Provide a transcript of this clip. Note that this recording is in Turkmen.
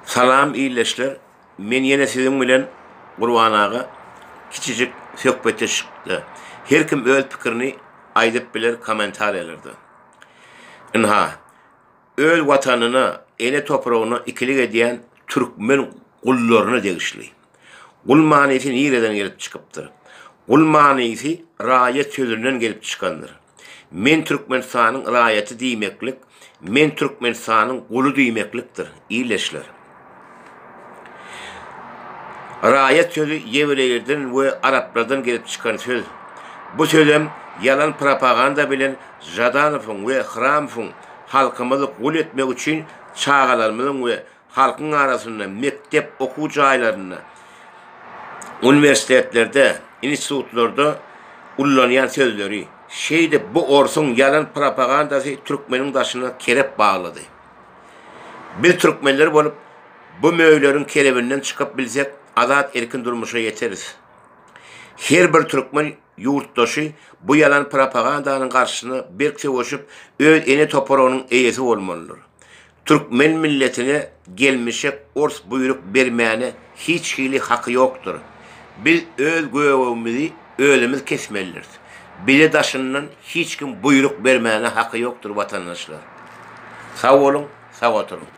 Salam ildeşler men ýene siziň bilen Gurban aga kiçijik söhbetdeşlikde her kim öz pikirini aýdyp biler kommentariýalarda ynha öz watanyna ele topragyna ikilik edýän türkmen gullaryna degişli. Gul manysy nireden gelip çykypdyr? Gul manysy raýat sözünden gelip çykandyr. Men Türkmenistanyň raýaty diýmeklik men Türkmenistanyň guly diýmeklikdir, ildeşler. Raýat sözi ýewreýlerden we araplardan gelip çykan söz. Bu sözem ýalan propaganda bilen Žadanowyň we Hramowyň halkymyzy gul etmek üçin çagalarymyzyň we halkyň arasynda, mekdep okuw jaýlarynda, uniwersitetlerde, institutlarda ullanýan sözleri. Şeýdip, bu orsuň ýalan propagandasy türkmeniň daşyna kerep baglady. Biz türkmenler bolup, bu möýleriň kerebinden çykyp bilsek, azat-erkin durmuşa ýeteris. Her bir türkmen ýurtdaşy bu ýalan propagandanyň garşysyna berk söweşip, öz ene topragynyň eýesi bolmalydyr. Türkmen milletine gelmişek ors buýruk bermäne hiç hili haky ýokdyr. Biz öz gögegimizi özümiz kesmelidiris. Bize daşyndan hiç kim buýruk bermäne haky ýokdyr watandaşlar. Sag boluň, sag oturyň.